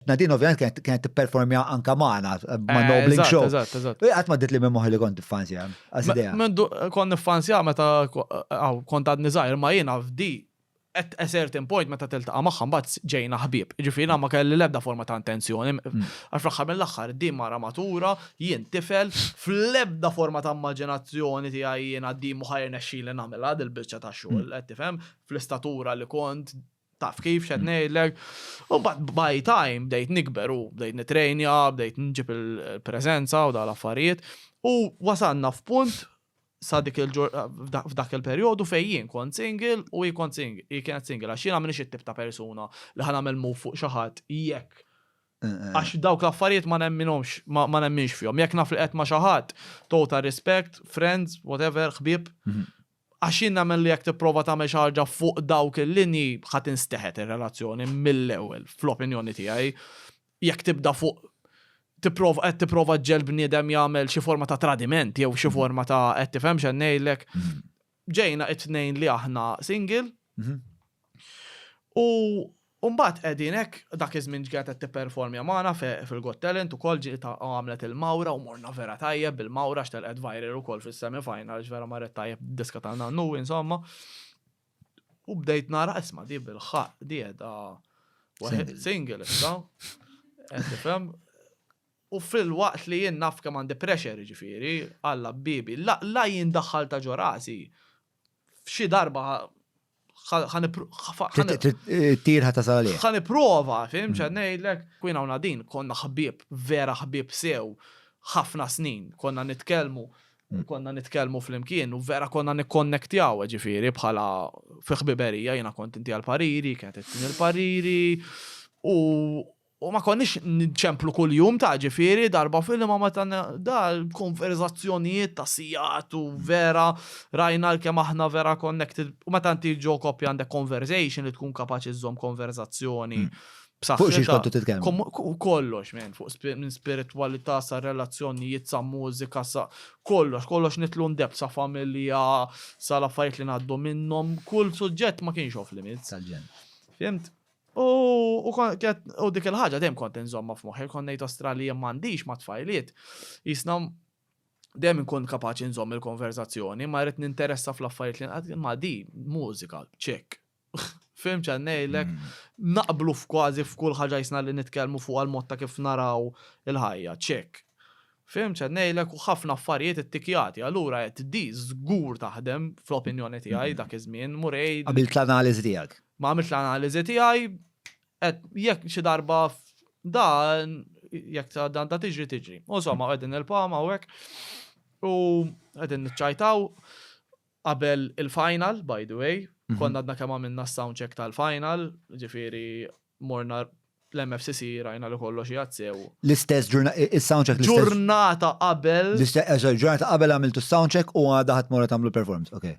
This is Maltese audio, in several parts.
Nadine ovvjament kienet kienet tipperformja anka magħna ma' Nobling Show. Eżatt, eżatt. Qatt ma dit li minn moħħi li kont fanzja. Għasidea. Mendu kont nifanzja meta aw kont għadni żgħir ma jiena f'di at a certain point meta tiltaqa' magħha mbagħad ġejna ħbieb. Ġifieri ma kelli l-ebda forma ta' intenzjoni. Għax fl-aħħar mill-aħħar din mara matura, jien tifel, fl-ebda forma ta' immaġinazzjoni tiegħi jiena din mhu ħajrnexxili nagħmilha dil-biċċa ta' xogħol qed tifhem fl-istatura li kont taf kif xed ngħidlek. U bat by time bdejt nikber u bdejt nitrejnja, bdejt nġib il-preżenza u dal-affarijiet. U wasanna f'punt sa dik il f'dak il-perjodu fejn jien kont single u jien kont kienet single għax jiena minix it-tip ta' persuna li ħan nagħmel move fuq xi ħadd jekk eh, eh. għax dawk l-affarijiet ma nemminhomx ma nemminx fihom. Jekk naf li qed ma' xi ħadd, total respect, friends, whatever, ħbieb, mhm. Għax jien nemmen li jekk tipprova tagħmel xi ħaġa fuq dawk il-linji ħa tinsteħet ir-relazzjoni mill-ewwel fl-opinjoni tiegħi. Jekk tibda fuq tipprova qed tipprova ġġegħel bniedem jagħmel xi forma ta' tradiment jew xi forma ta' qed tifhem x'qed ngħidlek. Ġejna it-tnejn li aħna single. U U mbagħad qegħdin hekk, dak iż-żmien ġġiet qed tipperformja magħna fil-Got Talent ukoll, ġiet għamlet il-mawra u morna vera tajjeb bil-mawra għax telqet viral ukoll fis-semi final għax vera marret tajjeb d-diska ta' Nannu insomma. U bdejt nara isma' di bil-ħaqq di qiegħda single issa. Qed tifhem? U fil-waqt li jien naf kemm għandi pressure jiġifieri, Alla biebi, la jien daħħaltha ġo rasi, f'xi darba Tirħa ta' salih. Ħan iprova, fim, ċan nejlek. Kwin għawna din, konna ħbib, vera ħbib sew, ħafna snin, konna nitkelmu, konna nitkelmu fl-imkien, u vera konna nikkonnektjaw, ġifiri, bħala fiħbiberija, jena kont inti għal-pariri, kienet it-tini l-pariri, u U ma konniex nċemplu kuljum ta' ġifieri darba f'ilma meta da l-konverżazzjonijiet ta' sigħat u vera rajna l-kemm aħna vera connected u meta inti ġo koppja għandek conversation li tkun kapaċi żżomm konverżazzjoni b'saħħitha. Fuq xiex kontu titkellmu? Kollox minn fuq minn spiritwalità sa relazzjonijiet sa mużika sa kollox, kollox nidħlu in depth sa familja sa l-affarijiet li ngħaddu minnhom, kull suġġett ma kienx off limits. Tal-ġenn. Fhimt? U dik il-ħaġa dejjem kont inżommha f'moħħi, kont ngħid ostra li jien m'għandix ma' tfajliet. Jisna dejjem inkun kapaċi nżomm il-konverżazzjoni, ma rrid ninteressa fl-affarijiet li nqad ma' di mużika, ċek. Fim ċan ngħidlek, mm. naqblu f'kważi f'kull ħaġa jisna li nitkellmu fuq għal-mod ta' kif naraw il-ħajja, ċek. Fim ċan ngħidlek u ħafna affarijiet it-tikjati, allura qed di żgur taħdem fl-opinjoni tiegħi mm. dak iż-żmien, murej. Għabilt l-analiżi tiegħek. Ma għamiltx l-analiżi tiegħi, qed jekk xi darba dan jekk sa dan ta' tiġri tiġri. U insomma qegħdin nilpgħu hawnhekk u qegħdin niċċajtaw qabel il-final, by the way, konna għadna kemm għamilna s-sound check tal-final, ġifieri morna l-MFCC rajna li kollox jgħad sew. L-istess il-sound check l-istess. Ġurnata qabel. L-istess ġurnata qabel għamiltu s-sound check u għadha ħadd mora tagħmlu performance, okay.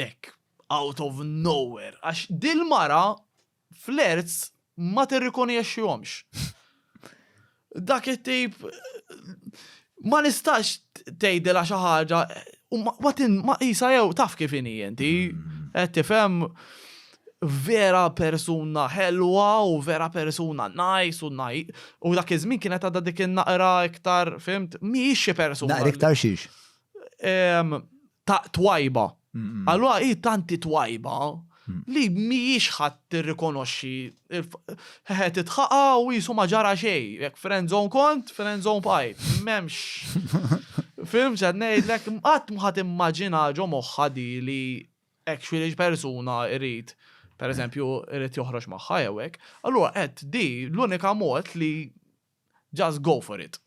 Hekk, out of nowhere, għax dil-mara flerts ma tirrikonjexxihomx. Dak it-tip ma nistax tgħidilha xi ħaġa u ma qisha jew taf kif inhi inti. Mm. Qed tifhem vera persuna ħelwa u vera persuna nice u naj. U dak iż-żmien kienet għadha dik in-naqra iktar, fimt, mhijiex xi persuna. Naqra iktar xiex? ta' twajba. Allura hi tanti twajba li mhijiex ħadd tirrikonoxxi ħeħe titħaqa' u qisu ma ġara xejn. Jekk friend zone kont, friend zone bqajt. M'hemmx. Fhimt x'qed ngħidlek? Qatt ma ħadd immaġina ġo moħħha di li actually xi persuna jrid pereżempju jrid joħroġ magħha jew hekk. Allura qed di l-unika mod li Just go for it.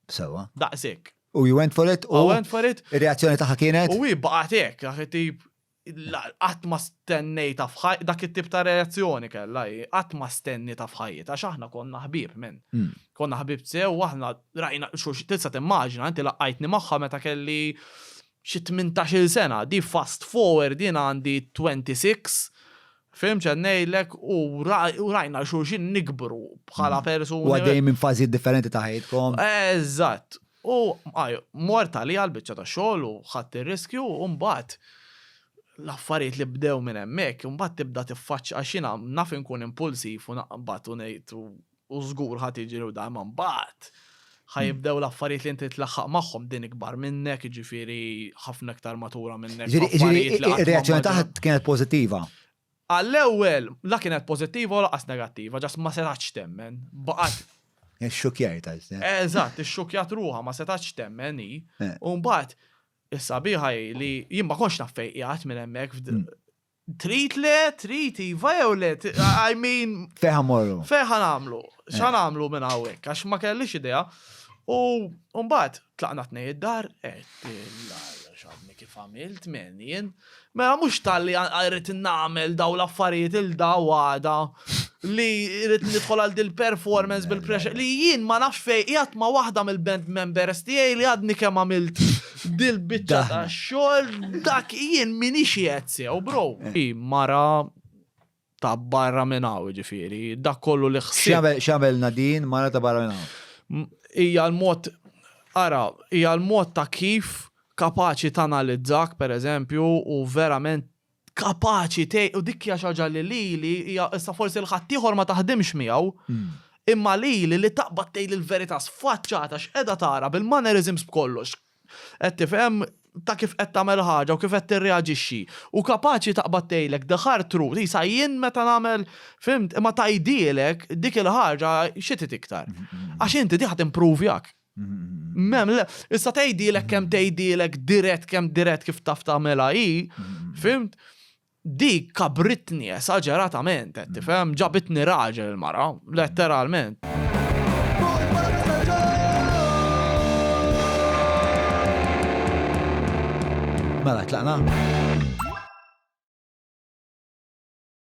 Sewa. Daqshekk. U you went for it? U I went for it. Ir-reazzjoni tagħha kienet? U hi baqatek, dak it-tip qatt ma stennejta f'ħaj, dak it-tip ta' reazzjoni kellha hi, qatt ma stennita f'ħajjita, għax aħna konna ħbib minn. Hmm. Konna ħbib sew, aħna rajna xux tista' timmaġina, inti laqqajtni magħha meta kelli xi 18 sena, di fast forward din għandi 26, Fehim x'qed ngħidlek u rajna xulxin nikbru bħala mm. persuni. U għaddej minn fażijiet differenti ta' ħajtkom. Eżatt. U mort għalija għal biċċa ta' xogħol u ħadd ir-riskju u mbagħad l-affarijiet li bdew minn hemmhekk, imbagħad tibda tiffaċċ għax jiena naf inkun impulsiv u naqbad u ngħid u u żgur ħa tiġi u dam mbagħad ħa jibdew l-affarijiet li inti tlaħħaq magħhom din ikbar minnek, ġifieri ħafna iktar matura minnek. Ġifieri ir-reazzjoni tagħha kienet pożittiva. Għall-ewwel la kienet pożittiva u laqas negattiva, ġas ma setax temmen. Baqgħet Ix-xukjar ta' Eżatt, ix-xukjat ruha ma setax temmen hi. Eh. U mbagħad is-sabiħa li jien ma konx naf fejqjat minn hemmhekk hmm. Trid le, trid iva jew le, I mean. Fejn ħa mmorru? Fejn ħa nagħmlu? X'ħa nagħmlu minn hawnhekk għax ma kellix idea. U mbagħad tlaqna tnej id-dar, qed x'għadni kif għamilt men jien. Mela mhux talli rrid nagħmel dawn l-affarijiet il daw għada. li rrit nidħol għal dil performance bil-pressure li jien ma nafx fej jgħat ma waħda mill-band members tiegħi li għadni kemm għamilt dil biċċa ta' xogħol dak jien minix jgħet sew bro. Eh. Mara ta' barra minn hawn ġifieri, dak kollu li ħsieb. X'għamilna din mara ta' barra minn hawn? Hija l-mod ara, hija l-mod ta' kif kapaċi tanalizzak pereżempju u verament kapaċi tgħin u dik hija xi ħaġa li lili hija issa forsi l ħaddieħor ma taħdimx miegħu. Imma lili li taqbad tgħid il-verità sfaċċata x'qiegħda tara bil-mannerisms b'kollox. Qed tifhem ta' kif qed tagħmel ħaġa u kif qed tirreaġixxi. U kapaċi taqbad tgħidlek the hard truth, isa jien meta nagħmel fhimt, imma tgħidhielek dik il-ħaġa xi trid iktar. Għax inti din ħa timprovjak. Mem, le, issa tgħidilek kemm tgħidilek dirett kemm dirett kif taf tagħmilha hi, fimt? Dik kabritni esaġeratament, qed tifhem, ġabitni raġel il-mara, letteralment. Mela, tlaqna?